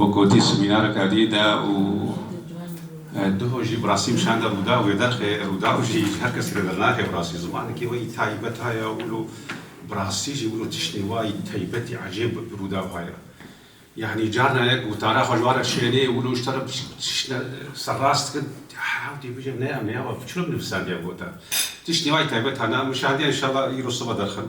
Wek gotî semînareke dî de û duho jî bi rastî nîşan de rûdaw ê derxê rûdaw jî ji her kesî re dernaxe bi rastî zimanekî weyî taybet haya û wilo bi rastî jî wilo tiştê wayî taybetî ecêb bi rûdaw haya yanî carna yek witara xwe ji wan re şênê û wilo ji te re tişt ser rast dike hew tê bije ne em nayê çima binivîsandî ev gota tiştê wayî taybet hana nîşandî ya înşallah îro sibe derxin.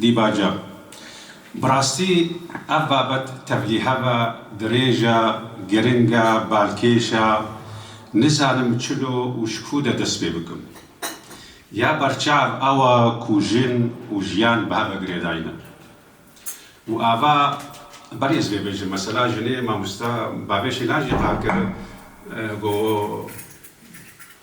Dîbaja, Bi rastî ev babet tevlî heve dirêj e, giring e, balkêş e, nizanim çilo û ji ku de dest pê bikim. Ya berçav ew e ku jin û jiyan bi hev ve girêdayîne. Û ava ber ez vê bêjim, mesela jinê mamoste bavê şîna jî qar kir, got,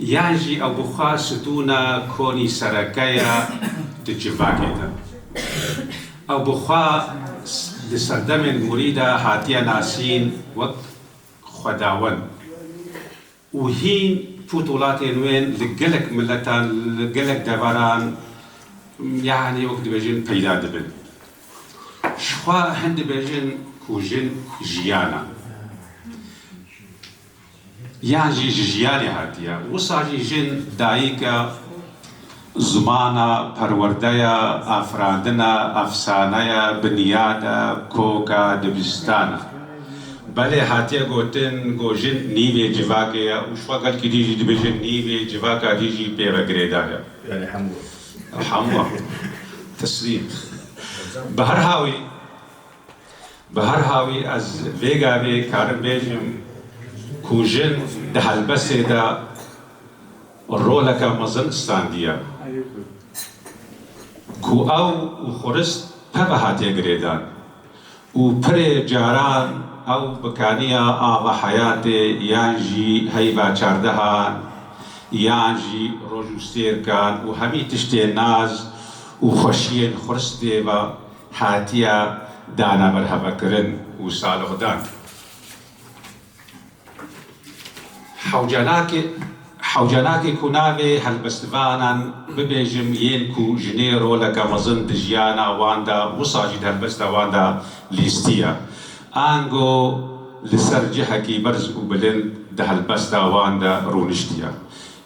Yan jî ew bi xwe sidûna konî sereke ye di civakê de. Ew bi xwe di serdemên gorî de hatiye nasîn wek xwedawend û hîn pûtolatên wê li gelek miletan, li gelek deveran yanî wek dibêjin peyda dibin. Jixwe hin dibêjin ku jin jiyan e. Yan jî ji jiyanê hatiye. Wisa jî jin, dayîke, zimana, perwerdeya, afirandina, efsaneye, binyade, koke, dibistane. Belê hatiye gotin ku jin nîvê civakê ye û şiva gelkî din jî dibêjin nîvê civaka din jî pê ve girêdar e. Belê hemû. Hemû. Teslîm. Bi her hawî. Bi her halî ez vê gavê karim bêjim ku jin di helbestê de roleke mezin standiye ku ew û xurist teve hatiye girêdan û pirê caran ew bi kaniya ava heyatê yan jî heyva çardehan yan jî roj û stêrkan û hemî tiştê naz û xweşiyên xuristê ve Hatiye dana berhevekirin û salixdan. Hewcelakê Hewcelakê ku navê helbestvanan bibêjim yên ku jinê roleke mezin di jiyana wan de wisa jî di helbesta wan de lîstî ye. Ango li ser cihekî berz û bilind di helbesta wan de rûniştiye.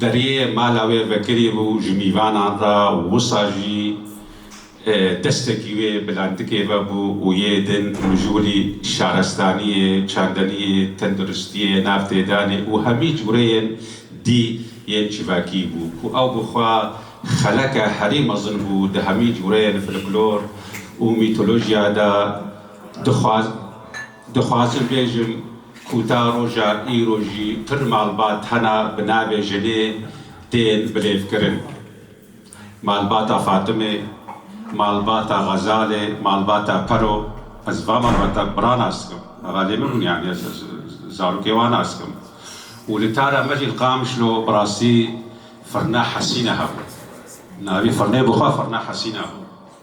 Deriyê mala wê vekirî bû ji mîvanan re û wisa jî destekî wê bi landikê ve bû û yê din mijûlî şarestaniyê, çandeniyê, tendirustiyê, navtêdanê û hemî cûreyên dî yên çivakî bû ku ew bi xwe xeleke herî mezin bû di hemî cûreyên filiklor û mîtolojiya de dixwaz Dixwazim bêjim ku ta roja îro jî pir malbat hene bi navê jinê tên bilêvkirin. Malbata Fatimê, malbata Xezalê, malbata Pero, ez van malbata bi ra nas dikim. Xalê min bûn yanî ez zarokê wan nas dikim. Û li tara me jî li Qamişlo bi rastî firna Hesîne hebû. Navê firnê bi xwe firna Hesîne bû.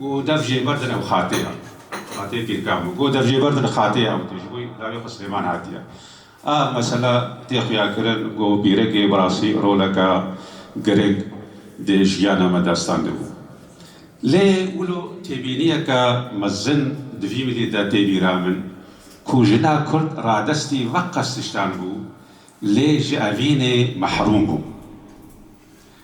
Goh dev jê berdin ew xatê ya. Xateyê pîrkan bû. Goh dev jê berdin xateyê ew tê. Ji bo lawê xwe Silêman hatiye. A mesela tê xuyakirin ku pîrekê bi rastî roleke giring di jiyana me destan de bû. Lê wilo têbîniyeke mezin di vî mîlî de tê bîra min ku jina kurd radestî veqas tiştan bû lê ji evînê mehrûm bû.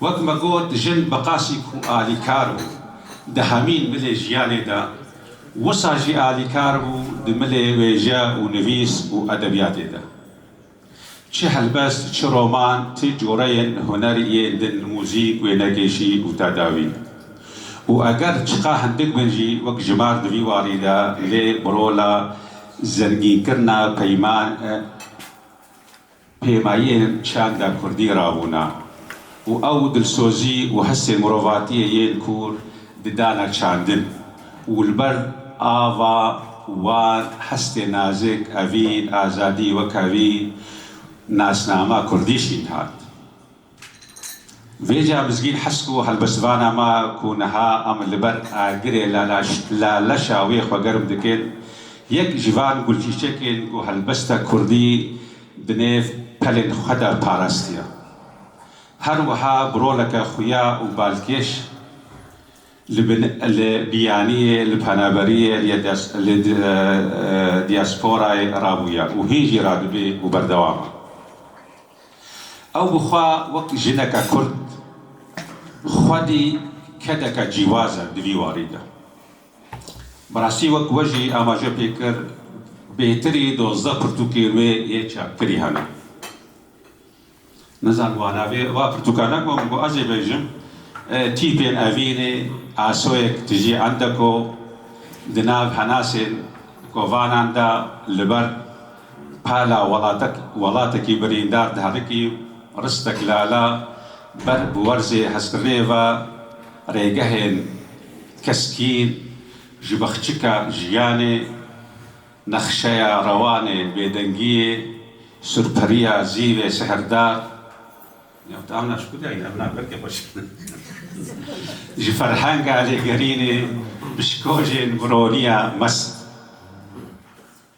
Wek me got jin bi qasî ku alîkar bû di hemîn milê jiyanê de wisa jî alîkar bû di milê wêje û nivîs û edebiyatê de. Çi helbest, çi roman, ti coreyên huner yên din muzîk, wênekêşî û tedawî. Û eger çiqa hindik bin jî wek jimar di vî warî de lê bi rola zengînkirina peyman e. Pêmayên çanda kurdî rabûna û ew dilsozî û hesê mirovatiyê yên kûr di dana çandin û li ber ava wan hestê nazik, evîn, azadî weke vî nasnama kurdî şîn hat. Vêca Mizgîn Hesk û helbestvana me ku niha em li ber agirê la leşa wê xwe germ dikin, yek ji van gulçîçekên ku helbesta kurdî di nêv pelên xwe de parastiye. Her wiha bi roleke xuya û balkêş li biyaniyê, li penaberiyê, li diasporayê rabûye û hîn jî radibê û berdewam e. Ew bi xwe wek jineke kurd xwedî kedeke cîwaz e di vî warî de. Bi rastî wek we jî amaje pê kir, bêhtirî dozdeh pirtûkên wê yê çapkirî hene. Nizanim wa navê va pirtûkan e ku em ku ez ê bêjim, Tîpên evînê, Asoyek tijî endeko, di nav henasên kovanan de li ber Pala welatekî birîndar diherikî, Ristek Lala ber bi werzê hezkirinê ve rêgehên keskîn ji bexçika jiyanê, nexşeya rewanê bêdengiyê, surperiya zîvê sihrdar, ji ferhenga lêgerînê, pişkojên bironiya mest.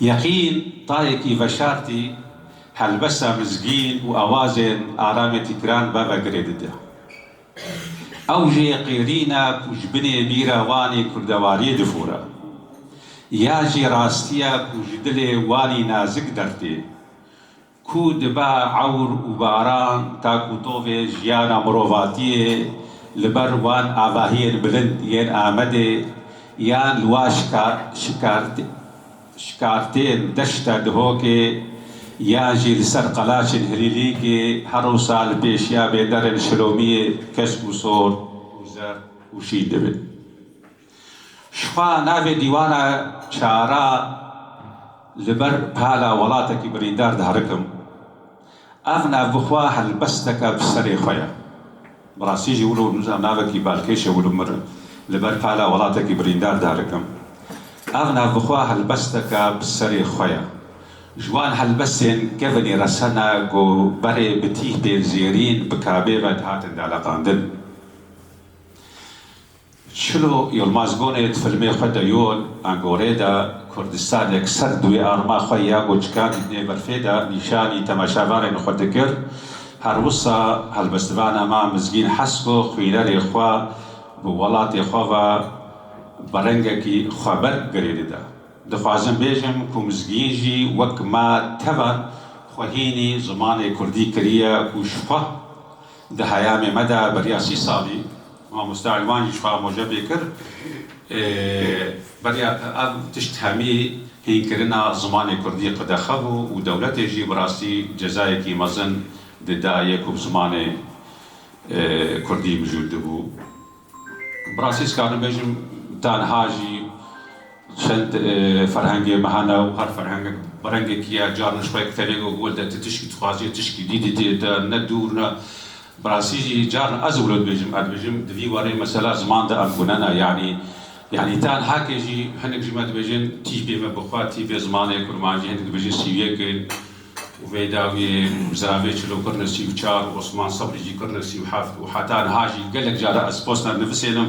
Yeqîn tayekî veşartî helbesa mizgîn û awazên aramê tîkran beve girê dide. Ew jê qêrîn e ku ji binê bîra Wanê kurdewariyê difore. Ya jê rastî ye ku ji dilê Wanî nazik dertê. Ku dibe ewr û baran tak û tovê jiyana mirovatiyê li ber wan avahiyên bilind yên Amedê yan li wan şikartên deşta Dihokê yan jî li ser qelaçên Hilîlîkê her wisa li pêşiya bêderên Şilomiyê kesk û sor û zer û şîn dibe. Jixwe navê dîwana çara li ber pala welatekî birîndar diherikim. Ev nav bi xwe helbesteke bi serê xwe ye. Bi rastî jî wilo nûza navekî balkêş e wilo mir li ber pala welatekî birîndar diherikim. Ev nav bi xwe helbesteke bi serê xwe ye. Ji wan helbestên kevinî resena ku berê bi tîhtên zêrîn, bi kabê ve dihatin deleqandin. Çilo Yilmazgonê di filmê xwe de Yol a Gorê de Kurdistanek ser duê arma xwe ya ku çikan tîne berfê de nîşanî temaşevarên xwe dikir. Her wisa helbestvana ma Mizgîn hes ku xwînerê xwe bi welatê xwe ve bi rengekî xweberg girê dide. Dixwazim bêjim ku Mizgîn jî wek ma tevan xwe hînî zimanê Kurdî kiriye ku ji xwe di heyamê me de beriya sî salî, Mamoste Elwan jî ji xwe re moje pê kir. Beriya te ev tişt hemî hînkirina zimanê kurdî qedexe bû û dewletê jî bi rastî cezayekî mezin dida yê ku bi zimanê kurdî mijûl dibû. Bi rastî dikarim bêjim tenha jî. Çend ferhengê me hene û her ferhengek bi rengekî ye. Caran ji xwe yek tenê got wele tu tişkî dixwazî, tişkî dî didî ye te, ne dûr ne. Bi rastî jî caran ez wilo dibêjim, ez dibêjim di vî warê mesela ziman de em gune ne. Yanî yanî tenha ke jî hinek jî me dibêjin tî bê me bi xwe, tî bê zimanê kurmanjî, hinek dibêjin sî û yek in û vê dawiyê ziravê çilo kirine sî û çar, Osman Sebrî jî kirine sî û heft û heta niha jî gelek caran ez posta nivisênim.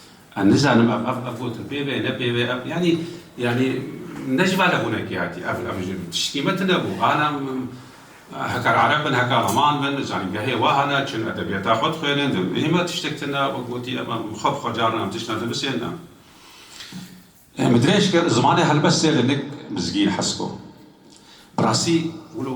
Ez nizanim ev ev ev gotin pêve ye ne pêve ye ev yanî yanî ne ji ber hebûnekê hatî ev ev ji tiştî me tune bû ana heke ereb bin heke riman bin li zanîngehê wa hene çin edebiyata xwe dixwênin di hê me tiştek tune wek gotî em em xwe bi xwe caran em tiştan dinusên em em dirêj kir zimanê helbest sê li nik mizgîn hesko bi rastî wilo